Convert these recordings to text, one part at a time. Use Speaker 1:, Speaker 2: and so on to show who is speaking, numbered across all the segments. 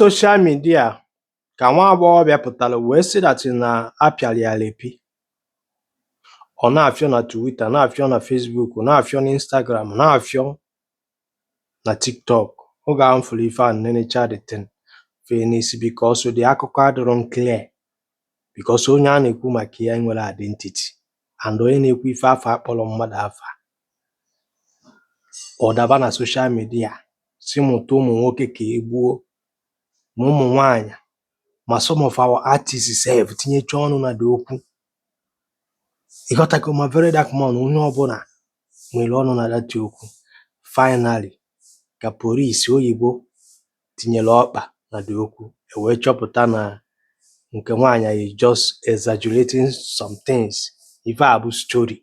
Speaker 1: social media ka nwa agbọghọbịa pụtara wee sị that na apịara ya rape ọ na-afịọ na Twitter na-afịọ na Facebook na-afịọ na Instagram na-afịọ na TikTok oge ahụ m fụrụ ife a nenecha the thing fee n'isi because the akụkọ adịrọ m clear because onye a na-ekwu maka ya enwerọ identity and onye na-ekwu ife afụ akpọrọ mmadụ afa ọ daba na social media sị mụta ụmụ nwoke ka e gbuo ma ụmụ nwaanyị ma some of our artists sef tinyecha ọnụ na the okwu ị ghọtago ma VeryDarkMan onye ọbụla nwere ọnụ na that okwu finally ka polisi oyibo tinyere ọkpa na the okwu e wee chọpụta na nke nwaanyị is just exaggerating some things ife a bụ story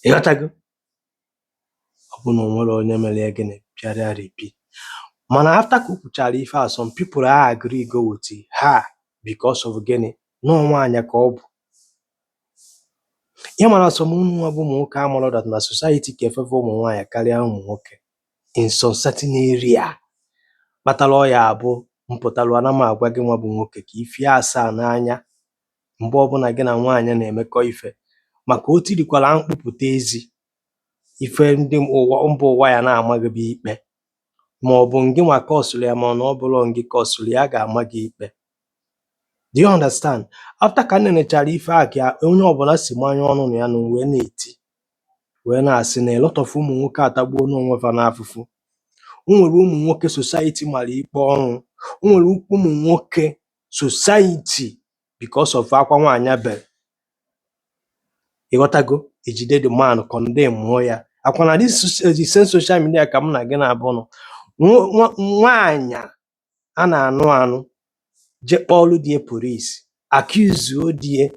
Speaker 1: ịghọtago ọ bụ na o nwerọ onye mere ya gịnị pịara ya rape mana after ka o kwuchara ife a some people a agree go with her because of gịnị na nwaanyị ka ọ bụ ị mara some ụnụ nwa bụ ụmụ nwoke amarọ that na society ka e favour ụmụ nwaanyị karịa ụmụ nwoke in some certain area kpatara ọ ya-abụ m pụtara ana m agwa gị nwa bụ nwoke ka ifie asaa n'anya mgbe ọbụla gị na nwaanyị na-emekọ ife maka o tirikwara mkpu pụta ezi ife ndị ụwa mba ụwa ya na-ama gị bụ ikpe ma ọ bụ ngị nwa kọsụrụ ya ma ọ na ọ bụrọ ngị kọsụrụ ya a ga-ama gị ikpe do you understand after ka m nenechara ife a ka onye ọbụla si manye ọnụ na ya na wee na-eti wee na-asị na a lot of ụmụ nwoke atagbuona onwe fa n'afụfụ o nwere ụmụ nwoke society mara ikpe ọnwụ o nwere ụmụ nwoke society because of akwa nwaanyị bere ịghọtago ejide the man condemnụọ ya ọkwa na this soc- the same social media ka mụ na gị naabọ nọ Nwa- nwa- nwaanyị a a na-anụ anụ je kpọọlụ di e polisi accuse-uo di e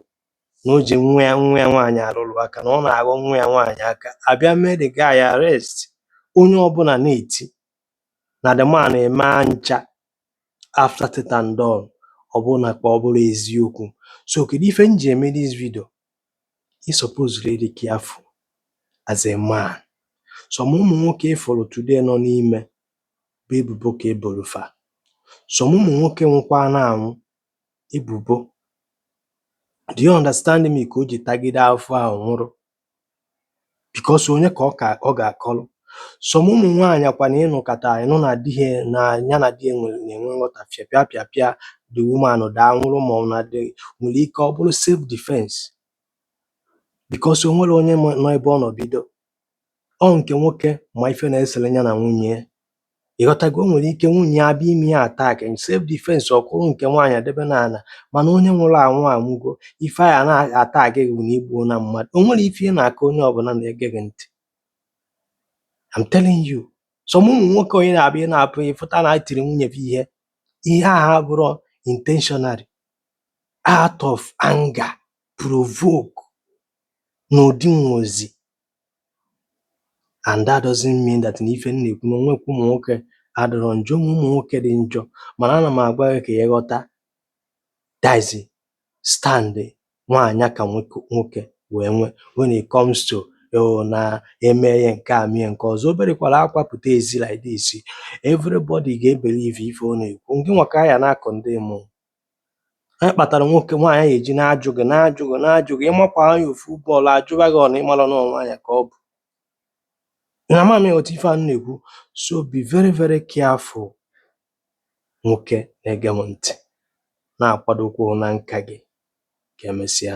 Speaker 1: na o ji nwa ya nwa ya nwaanyị arụrụ aka na ọ na-aghọ nwa ya nwaanyị aka a bịa mee the guy arrest onye ọbụla na-eti na the man eme ha ncha after teta and done ọ bụrụ na ka ọ bụrọ eziokwu so kedu ife m ji eme this video ị suppose to dey careful as a man some ụmụ nwoke ị fụrụ today nọ n'ime bụ ebubo ka e boro fa some ụmụ nwoke nwụkwara anwụ ebubo do you understand me ka o ji tagide afụfụ nwụrụ because onye ka ọ ka ọ ga-akọlụ some ụmụ nwaanyị ọkwa na ị nụkata ị nụ na di ha na ya na di ya nwere na-enwe nghọtafie pịa pịa pịa the woman daa nwụrụ ma ọ na di nwere ike ọ bụrụ self defense because o nwerọ onye ma- nọ ebe ọ nọ bido ọ nke nwoke ma ife na-esere ya na nwunye ya ịghọtago o nwere ike nwunye ya abịa ime ya attack self defense ọ kụrụ nke nwaanyị debe n'ala mana onye nwụrụ anwụ anwụgo ife a na-atag gị bụ na igbuona mmadụ o nwere ife ị na-akọ onye ọbụla na-ege gị ntị I'm telling you some ụmụ nwoke onye na-abịa ị na-apụ ịfụta na tiri nwunye ya ihe ihe ahụ abụrụ intentionally out of anger provoke n'ụdị nwozi and that doesn't mean that na ife m na-ekwu na onwekwa ụmụ nwoke adịrọ njọ ụmụ ụmụ nwoke dị njọ mana ana m agwa gị ka ị ghọta that is stand nwaanyị ka nwoke wee nwe when it comes to oh, na eme ya nke a mie nke ọzọ o berekwala akwa pụta ezi like this everybody ga-ebelieve ife ọ na-ekwu ngị nwa ka a ya na-acondemn Anyị kpatara nwoke nwaanyị anyị eji na-ajụ gị na-ajụ gị na-ajụ gị ịmakwa ya ofu blow ajụwa gị ọ na ịmara na ọ nwaanyị ka ọ bụ na ama m ịghọta ife a m na-ekwu so be very very careful nwoke na-ege m ntị na-akwadokwa na nka gị ka emesịa